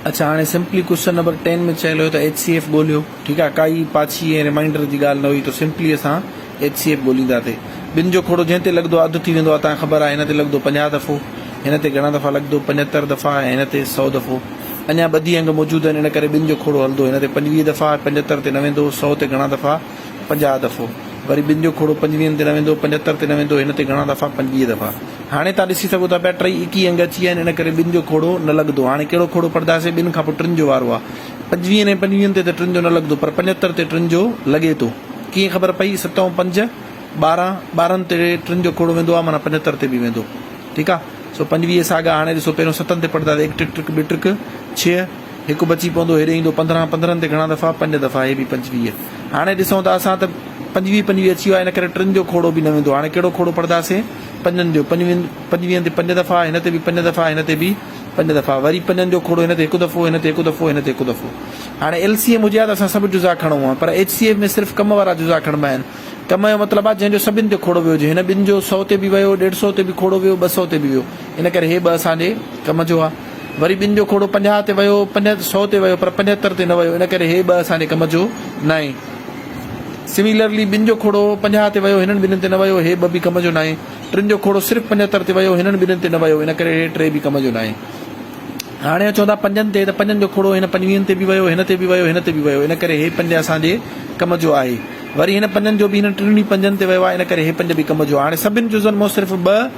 اڇا هاڻي simply question number ten ۾ چيل هيو ته ايچ سي ايف ڳوليو ٺيڪ آهي ڪائي پاڇي ۽ ريمائنڊر جي ڳالهه نه هئي ته سمپلي اسان ايچ سي ايف ڳولينداسي ٻن جو کوڙو جنهن تي لڳندو اڌ ٿي ويندو آهي تان خبر آهي هن تي لڳندو پنجاهه دفعو هن تي گهڻا دفعا لڳندو پنجهتر دفعا ۽ هن تي سؤ دفعو اڃا ٻڌي انگ موجود آهن ان ڪري ٻن جو کوڙو هلندو هن تي پنجويهه دفعا پنجهتر تي نه ويندو سؤ تي گهڻا دفعا پنجاهه دفعو وري ٻن جو کوڙو پنجويهن تي نه ويندو، پنجهتر تي نه ويندو، هن تي گهڻا دفعا پنجويهه دفعا. هاڻي توهان ڏسي سگهو ٿا پيا ٽئي اڪي انگ اچي ويا آهن ان ڪري ٻن جو کوڙو نه لڳندو. هاڻي ڪهڙو کوڙو پڙهنداسين؟ ٻن کان پوء ٽن جو وارو آهي. پنجويهن ۽ پنجويهن تي ته ٽن جو نه لڳندو پر پنجهتر تي ٽن جو لڳي ٿو. ڪيئن خبر پئي؟ ست ۽ پنج ٻارهن، ٻارهن تي ٽن جو کوڙو ويندو آهي معنيٰ پنجهتر تي به ويندو. ٺيڪ آهي. سو پنجويهه ساڳا هاڻي ڏسو پهريون ستن تي پڙهنداسين هڪ ٽڪ ٽڪ ٻه ٽڪ ڇهه، هڪ بچي پوندو هيڏي ايندو پندرهن پندرهن تي گهڻا دفعا پنج دفعا هي به پنجويهه هاڻي ڏسون ته اسان ته پنجويهه پنجويهه اچي ويا ان ڪري ٽن جو کوڙو به نه ويندو هاڻي ڪهڙو کوڙو پڙهنداسين پنجن جو پنجويهن پنجويهن تي پنج دفعا هن تي به پنج دفعا هن تي به پنج دفعا وري پنجن جو کوڙو هن تي هڪ دفعو هن تي هڪ دفعو هن تي هڪ دفعو هاڻي ايل سي ايم هجي ها ته اسان سڀ جزا کڻون ها پر ايچ سي ايف ۾ صرف ڪم وارا جزا کڻبا آهن ڪم جو مطلب آهي جنهن جو سڀن تي کوڙو ويو هجي هن ٻن جو سؤ تي به ويو ڏيڍ سؤ تي به کوڙو ويو ٻه سؤ تي به ويو ان ڪري هي ٻه اسان جي ڪم جو آهي وري ٻن جو کوڙو پنجاهه تي ويو، پنج سؤ تي ويو پر پنجهتر تي نه ويو، ان ڪري هي ٻه اسان جي ڪم جو ناهي. Similarly، ٻن جو کوڙو پنجاهه تي ويو، هنن ٻنهن تي نه ويو، هي ٻه به ڪم جو ناهي. ٽن جو کوڙو صرف پنجهتر تي ويو، هنن ٻنهن تي نه ويو، ان ڪري هي ٽي به ڪم جو ناهي. هاڻي اچون ٿا پنجن تي ته پنجن جو کوڙو هن پنجويهن تي به ويو، هن تي به ويو، هن تي به ويو، ان ڪري هي پنج اسان جي ڪم جو آهي. وري هن پنجن جو به هنن ٽنهن ئي پنجن تي ويو آهي، ان ڪري هي پنج به ڪم جو آهي. هاڻي سڀن جزن مان صرف ٻه.